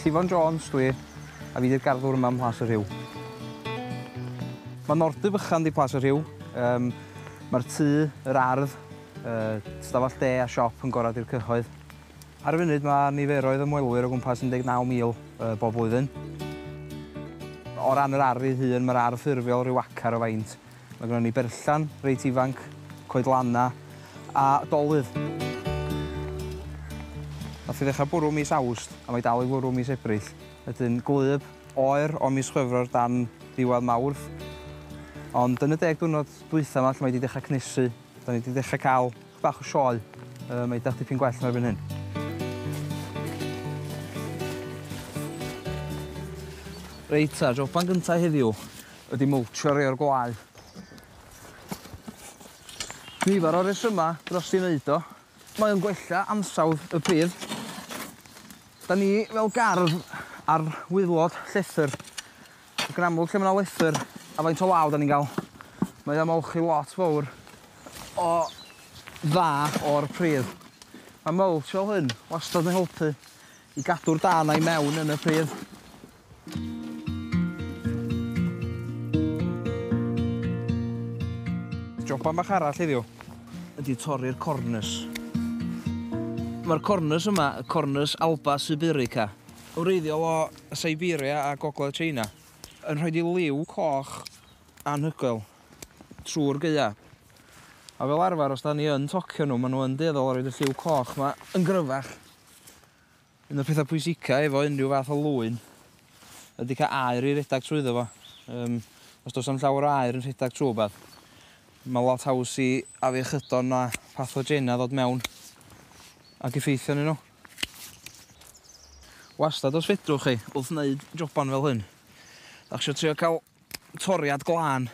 Llifon Jones dwi, a fi 'di'r garddwr yma ym Mhlas y Rhiw. Mae Nordy fychan di Plas y Rhiw. Um, Mae'r tŷ, yr ardd, uh, stafell de a siop yn gorau i'r cyhoedd. Ar y funud mae niferoedd ymwelwyr o gwmpas 19,000 uh, bob blwyddyn. O ran yr ardd ei hun, mae'r ardd ffurfiol rhyw acar o faint. Mae gynnon ni berllan reit ifanc, coedlanna a dolydd. Nath hi ddechra bwrw mis Awst a mae 'i dal i fwrw mis Ebrill. Wedyn gwlyb oer o mis Chwefror dan ddiwadd Mawrth. Ond yn y deg diwrnod dwytha 'ma lle mae 'di dechra cnesu, 'dan ni 'di dechra ca'l chydig bach o sioe. Yy mae 'di edrych dipyn gwell na erbyn hyn. Reit ta, joban gynta heddiw. ydi mwltsio rhei o'r gwlâu. Nifer o resymau dros i wneud o. Mae o'n gwella ansawdd y pridd. Da ni fel gardd ar wyddlod llethr ac yn amlwg lle mae yna lethr a faint o law da ni'n cael mae o'n molchi lot fawr o dda o'r pridd. Mae mulch fel hyn wastad yn helpu i gadw'r da yna i mewn yn y pridd. Joban bach arall heddiw ydy torri'r cornus. Mae'r cornus yma, y cornus Alba sibirica, wreiddiol o Siberia a gogledd China, yn rhoi i liw coch anhygoel trwy'r gaea. A fel arfer, os da ni yn tocio nhw, maen nhw yn dueddol o roed y lliw coch yma yn gryfach. Un o'r pethau pwysicau efo unrhyw fath o lwyn ydy cael aer i redeg trwyddo fo. Yym, os does am llawer o aer yn rhedeg trwy rhywbeth, mae lot haws i afiechydon a phathogenau ddod mewn ac effeithio arnyn nhw. Wastad os fedrwch chi, wrth wneud joban fel hyn, dach chi eisiau trio cael toriad glân,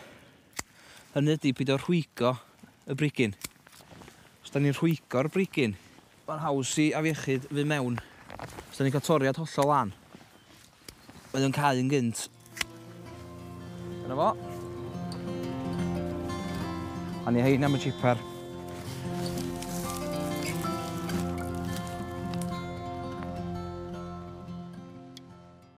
hynny ydi peidio rhwygo y brigyn. Os da ni'n rhwygo'r brigyn, mae'n haws i afiechyd fynd mewn. Os da ni'n cael toriad hollol lan, mae o'n cau yn gynt. Dyna fo. A ni hein am y chipper.